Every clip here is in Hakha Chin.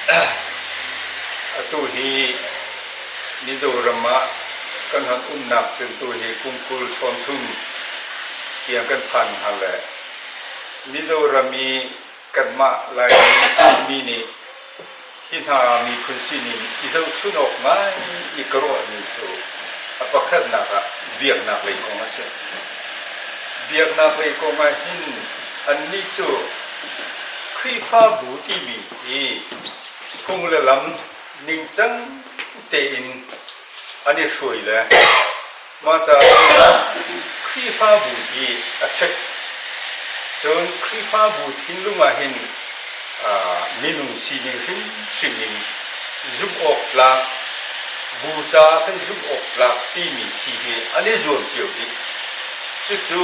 Atu hi Mizoram ah kan han umnak cu tu hi kum kul chawn thum tiang kan phan hna le Mizoram i kanmah Laimi Chinmi nih hi hna miphun sining i zohchun awk ngai i ka ruahmi cu a pakhatnak ah biaknak lei kong a si. Biaknak lei kong ah hin Annih cu Khrihfabu timi i phung le lam ningcang tein an i hruai le mah caah Khrihfabu hi a ṭhet. Cun Khrihfabu thinlung ah hin minung sining hrimhrim in zumh awk tlak, bu caah kan zumh awk tlak timi si hi an i zuam cio dih. Cucu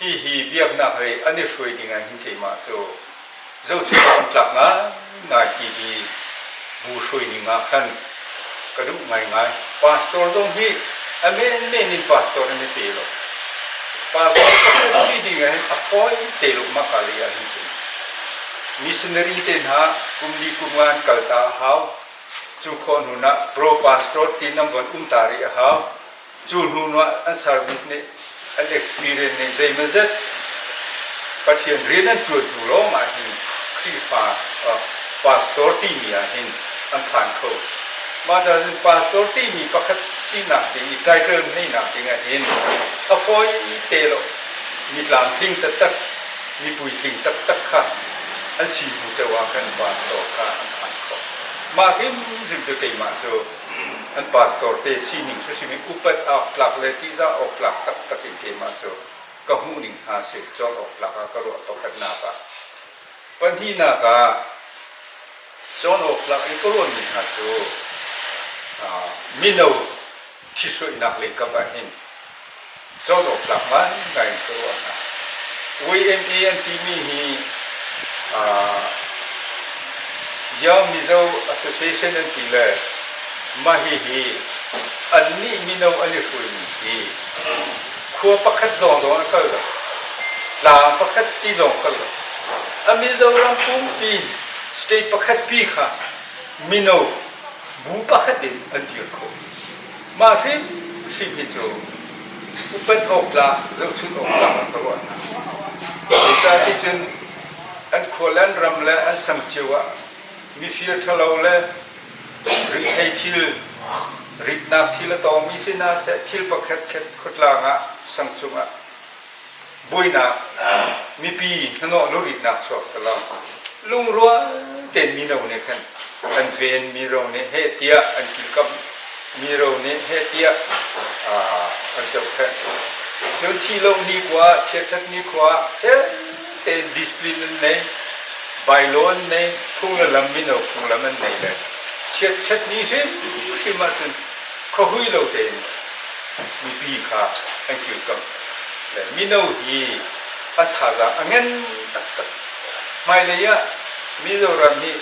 Hihi biaknak lei an i hruai ding ahhin keimah cu zohchunh awk an tlak ngaingai ti hi bu hruai ning ah khan ka duh ngaingai. Pastor zong hi a menmen in pastor in i pe lo. Pastor ka hmuhmi ding ahhin a fawi te lo maka lei ahhin cun. Missionary te hna kum li kum nga an kalta a hau. Cu khawh hnunak pro pastor ti nan von um ta rih a hau. cu hnuah an service nih an experience nih zeimazat Pathian rian an ṭuan hnu lawng ah hin Khrihfa pastor timi ah hin an phan kho. Mah cun pastor timi pakhat sinak ding i title ngeihnak ding ah hin a fawi te lo mi tlamtling taktak, mi puitling taktak kha an si hnu ceu ah khan pastor kha an phan kho. Mah hrimhrim cu keimah cu An pastor te sining cu a simi upat awktlak le ṭihzah awktlak taktak in keimah cu ka hmuh ning hna seh cawk awktlak ah ka ruah pakhatnak ah pahnihnak ah cawn awktlak in ka ruahmi hna cu mino ṭhitsuihnak leikap ah hin cawlcawktlak ngaingai in ka ruah hna. YMA an timi hi uh, Yang Mizo Association an ti le mah hihi annih mino an i hruaimi hi khua pakhat lawng lawng an kal lo tlang pakhat ti lawng kal lo a Mizoram pumpi state pakhat pi kha mino bu pakhat in an dir khawh Mah hrimhrim hi cu upat awktlak, zohchunh awktlak an ka ruah hna. Zeicah ticun an khualan ram le an sam cio ah mifir ṭhalo le rihhlei thil, ritnak thil a tawngmi sinah seh thil pakhat khat khuatlang ah sang cungah buainak mipi hnahnawh luritnak chuak selaw lungrual tein mino nih khan an ven mi ro nih heh tiah an kilkamh mi ro nih heh tiah an zohkhenh cun thi lo ni khua chiathat ni khua felte discipline an nei bylaw an nei phungla lam mino phunglam an nei le chiathat ni hrim hrim ahcun khahui lo tein mipi kha an kilkamh mino hi a thazaang a ngen taktak hmailei ah Mizoram hi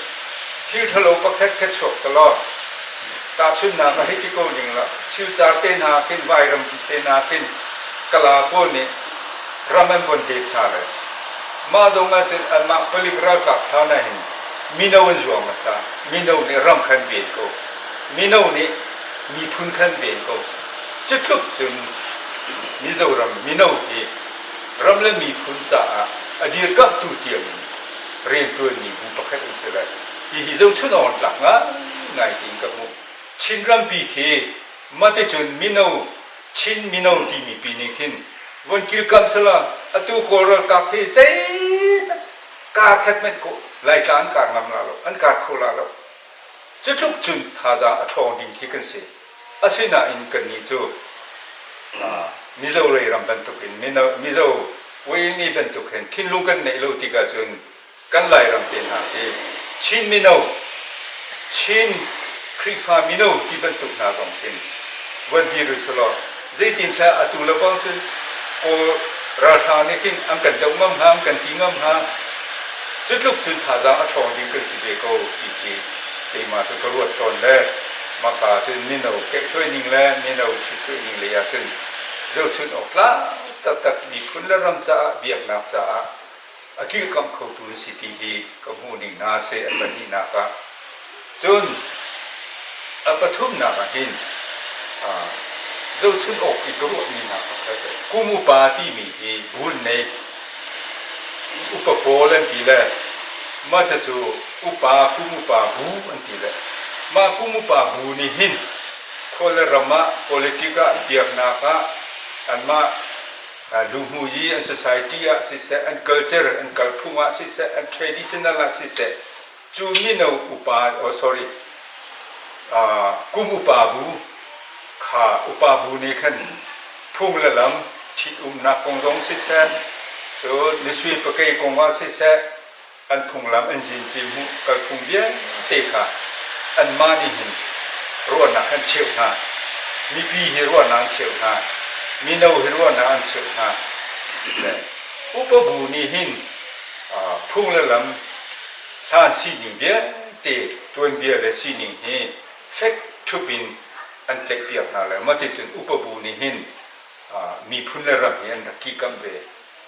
thil thalo pakhat kha chuak ta law tahchunhnak ah hiti ko ning la thilcar te nakin vairampi te nakin kala pawl nih ram an von dep hna lai mah zong ahcun anmah palik ralkap hna hna hin mino an zuam hmasa mino nih ram khan ven ko mino nih miphun khan ven ko Cutluk cun Mizoram mino hi ram le miphun caah a dirkamhtu tiangin rianṭuanmi bu pakhat an si lai. Hihi zohchunh awk tlak ngaingai tein ka hmuh. Chin rampi khi mahticun mino, Chin mino timi pi nih khin von kirkamh selaw atu Kawl ralkap hi zeitak karkhat hmanh Laitla an kar ngam la lo, an kar kho la lo. Cutluk cun thazaang a ṭhawng ding khi kan si. Asinain kannih cu Mizo rei ram bantukin Mizo weimi bantuk hin thinlung kan neih lo tik ahcun kan Lairam te hna khi Chin mino, Chin Khrihfa mino ti bantuk hna zong khin vuanvi rui selaw zeitintiah atu lawng cu Kawl ralhrang nih hin an kan doh ngam hnga an kan ti ngam hnga cutluk cun thazaang a ṭhawng ding kan si ve ko ti khi keimah cu ka ruat tawn le maka cun mino kehhruai ning le mino ṭhithrui ning lei ah cun zohchunh awk tlak taktak miphun le ram caah biaknak caah a kirkamh khotu na si ti hi ka hmuh ning hna seh a pahnihnak ah cun a pathumnak ah hin zohchunh awk i ka ruahmi hna pakhat kum upa timi hi bul nei upa pawl an ti le mata cu upa kum upa bu an ti le mah kum upa bu nih hin khual ram ah politik ah biaknak ah anmah Luhmu hi an society ah siseh, an culture, an kalphung ah siseh, an traditional ah siseh, cu mino upa, oh sorry, kum upa bu, kha upa bu nih khan phung le lam ṭhitumnak kong zong siseh, cu nisui pakei kong ah siseh, An phunglam an zin ci hmuh kalphung vialte kha anmah nih hin ruahnak an cheuh hna. Mipi hi ruahnak an cheuh hna. Mino hi ruahnak an cheuh hna. Upa bu nih hin phung le lam hlan sining vialte tuanbia le sining hi fek thup in an tlaihpiak hna lai. Mah ticun upa bu nih hin miphun le ram hi an rak kikamh ve.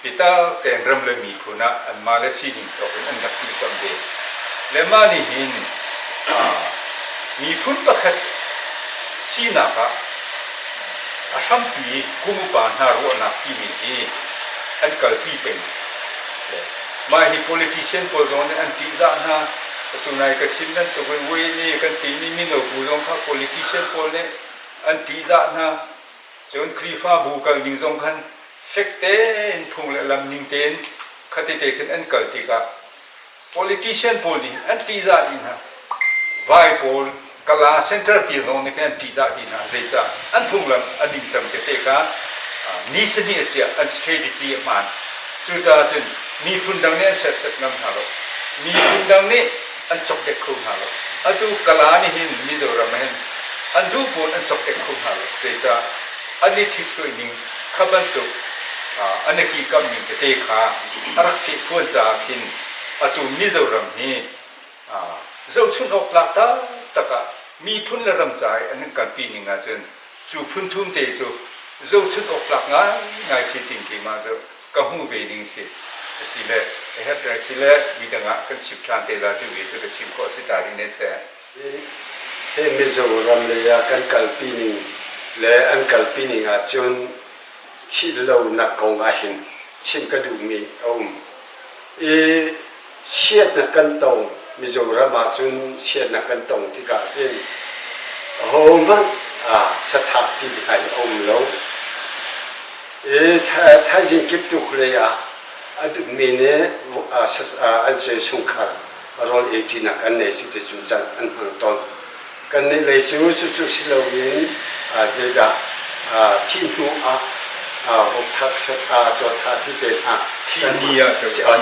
Pitar Tengrem le miphun ah anmah le sining thawk in an rak kilkamh ve. Le mah nih hin miphun pakhat sinak ah a hrampi kum upa hna ruahnak timi hi an kalpi peng. Mah hi politician pawl zong nih an ṭihzah hna. Atu nai ka chim bantuk in Wayne kan timi mino bu zong kha politician pawl nih an ṭihzah hna. Cun Khrihfabu kal ding zong khan fek tein phung le lam ning tein khatete khin an kal tikah politician pawl ding an ṭihzah dih hna. Vai pawl kala center tir zong nih khin an ṭihzah dih hna. Zeicah? An phunglam a ningcang tete kha ni sahnih a chiah, an strategy a hmaan. Cucaah cun miphun dang nih an serhsat ngam hna lo. Miphun dang nih an cokdek kho hna lo. Atu Kala nih hin Mizoram in an duh pawl an cokdek kho hna lo, zeicah an i ṭhithlai ning kha bantuk an i kikamhning tete kha a rak fehfuan caah khin atu Mizoram hi zohchunh awk tlak taktak ah miphun le ram ca i an kan kalpi ning ahcun cu phun thum te cu zohchunh awk tlak ngaingai si ding keimah cu ka hmuh ve ding si asile a herh peng sile midang ah kan chimh ṭhan te la cu ve cu ka chimh khawh a si ta rih ne seh. Hi Mizoram lei ah kan kalpi ning le an kalpi ning ahcun thih lo nak kong ahhin chim ka duhmi a um i Siannak kan tong Mizoram ah cun siannak kan tong tikah hin ahohmanh sathakti ngai a um lo. I thaizing kiptuk lei ah a dukmi nih an sungkhar rawl eiṭinak an nei cu ti cu an hmang tawn. Kannih lei cu cucu si loin zeidah thih hnu ah vokthak cawttha ti te hna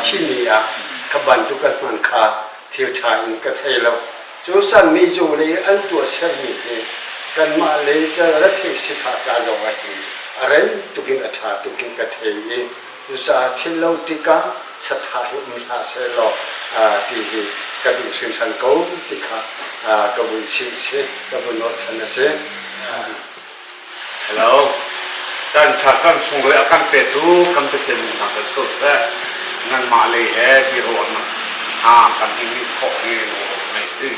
thihni ah kha bantuk kan hman kha thiltha in ka thei lo. Cu sanmi zunglei an tuah sermi hi kanmah lei retheih sifah ca zong ah hi a rem tuk in a tha tuk in ka thei i Cucaah thil lo tikah saṭha hi um hlah seh law ti hi ka duh hringhran ko ti kha ka vun chimh a si, ka vun ruahchan a si. Hello. Kan thar kan sunglawi a kan petu kan Pathian min hna kan tul seh. Nanmah lei he biaruahnak hna kan in nih khawh hi ngai ti.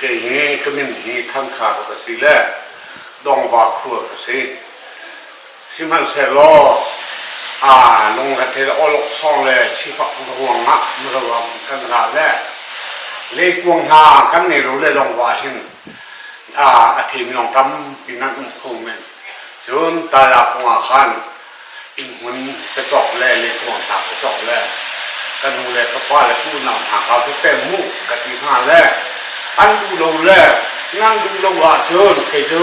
Kei hi ka min hi Thankhar ka si le Dongva khua ka si. Sihmanhsehlaw aa lungretheil aw loksawng le sifak ruangah milo kan ra le leikuang hna kan ngei lo le lawng wa hin a themi lawng tampi nan um kho men cun tala kongah khan innhmun ka cawk le leikuang hna ka cawk le ka nu le ka pa le ka unau hna ka cu tem mu ka ti hna le an duh lo le nan duh lo ahcun kei cu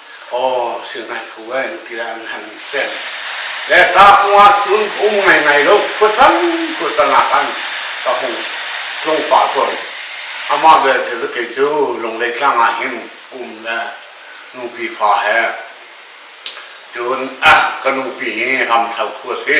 aw thil ngai kho ai tiah an han ten le ta hung ah cun um ngai ngai lo khuasang khuasang ah khan ka hung tlung pa tawn amah belte cu kei cu Lunglei tlang ah hin um le nupi fa he cun ah ka nupi hi Ramthal khu a si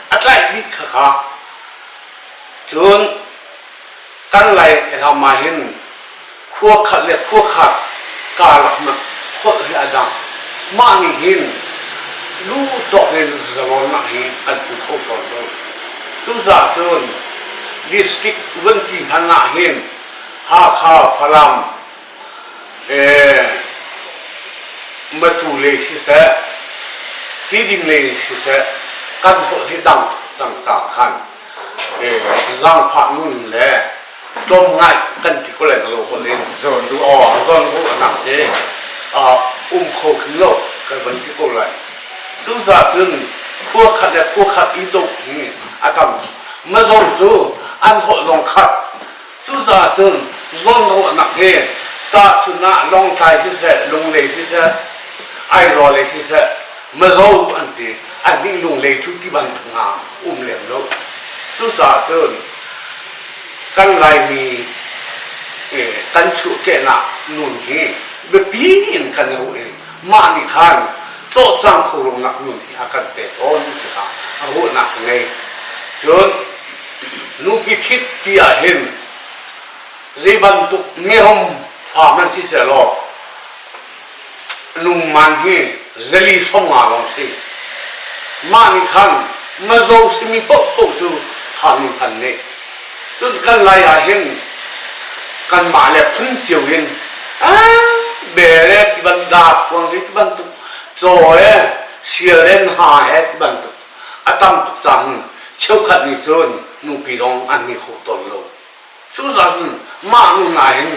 a tlaihmi khakha cun kan lai elam ah hin khua khat le khua khat karlak nak holh hi a dang mah nih hin lu tawk in zalonnak hi an pu kho tawn ko cucahcun district uanpi hmanh ah hin Hakha, Falam, matu le siseh ti ding le siseh kan sawh si dang cangka khan zaangfah nun le tlawm ngai kan ti ko lai lo hol in zawn du aw zawn du anak te um kho khi lo kan van ti ko lai tu za cun khua khat le khua khat i dok hi a tam mazor cu an holh zong khat Cucaah cun zawlngaruahnak hi tahchun ah Lawngtlai siseh, Lunglei siseh, Airawl siseh, Mazaw an ti annih Lunglei cu tibantuk hna um lem lo. Cucaah cun kan Laimi kan chuhkehnak nun hi biapi in kan i ruah i mah nih khan cawhcang kho lonak nun hi a kan pe tawn tikah ruahnak ka ngei. Cun Nupi ṭhit ti ahhin zeibantuk merom fa hmanh si sehlaw nungman hi zali hronga lawng si. Mah nih khan mazo simi paohpaoh cu kha nun kan neh. Cun kan lai ahhin kanmah le phun cio in a bere tibantuk, da khuang hi tibantuk, caw he, sial he, ha he tibantuk A tam tuk cang. Cheukhat nih cun nupi lawng an ni kho tawn lo. Cucaah cun mah hnu nain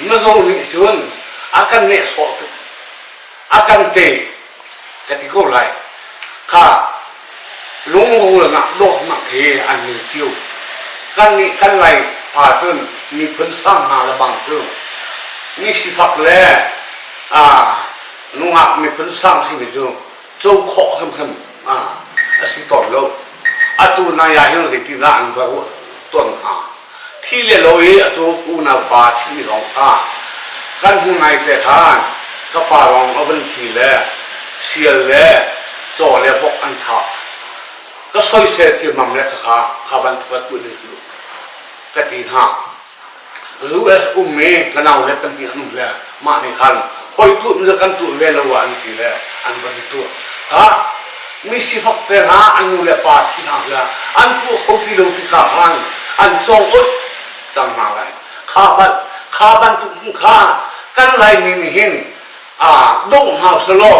na zong nih cun a kan nehsawh tuk. A kan tei ka ti ko lai. Kha lungrulnak dawtnak hi an ni cio. Kannih kan lai pa cun miphun sang hna lebang cu ni sifak le nungak miphun sang simi cu co khawh hrimhrim a si tawn lo. Atu nai ahhin zeitindah an va ruah tawn hnga? Thi le lo i atu unaupa thimi zong kha kan hung ngaite ṭhan. Ka pa lawng a vun thi le sial le caw le vok an thah. Ka soisel thimmam le khakha kha vanphuat u nih ka ti hna. US um i ka nau le pahnih an um le mah nih khan hoi tuh le kan tuh ve lo ah an ti le an van i tuah ha mi sifak te hna an nu le pa thi hna hla an tuah kho ti lo ti kha khan an cong ut tam hna lai kha ban kha bantuk kha kan lai ning hin a dong hna selaw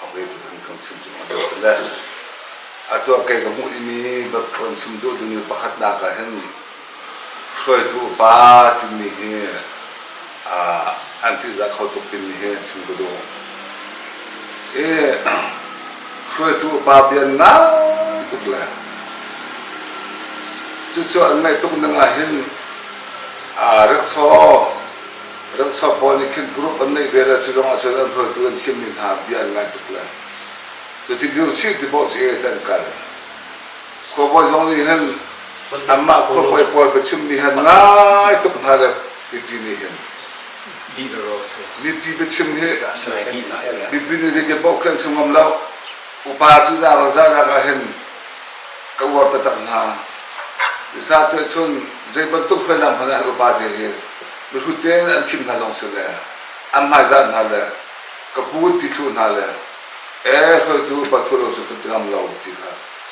Hawei tu kan kam chim cu hman a si le. A tuah kei ka hmuh i mi kan chim duh duni pakhatnak ah hin hruaitu pa timi hi an tihzah kho tuk timi hi chim ka duh. I hruaitu pa bian ngai tuk le cucu an ngaih tuk ning ah hin aa rikshaw Ramsa pawl nih khin group an neih ve le cu lawng ahcun an hruaitu an thimmi hna bia an ngai tuk le cuti dirchih tipoh cu ee kan kal. Khuabawi zong nih hin anmah khuabawi pawl biachimmi hi ngai tuk hna le mipi nih hin mipi biachim hi mipi nih zei biapoh khi an si ngam lo Upa cu zarang zarang ah hin ka uar taktak hna. Zahnte chun zei bantuk hriamnam hmanh ah upate hi mihrut tein an thim hna lawng si le an hmaizah hna le ka put ti thlu hna le ee hruaitu upa thua lo cu kan ti ngam lo ti kha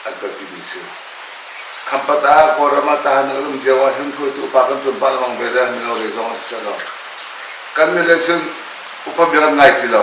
an kalpi mi si. Khampat ah Kawlram ah tahan an um lio ah hin hruaitu upa kan tuan pah lawng ve le mino lei zong a si lo. Kan nih le cun upa bia kan ngai ti lo.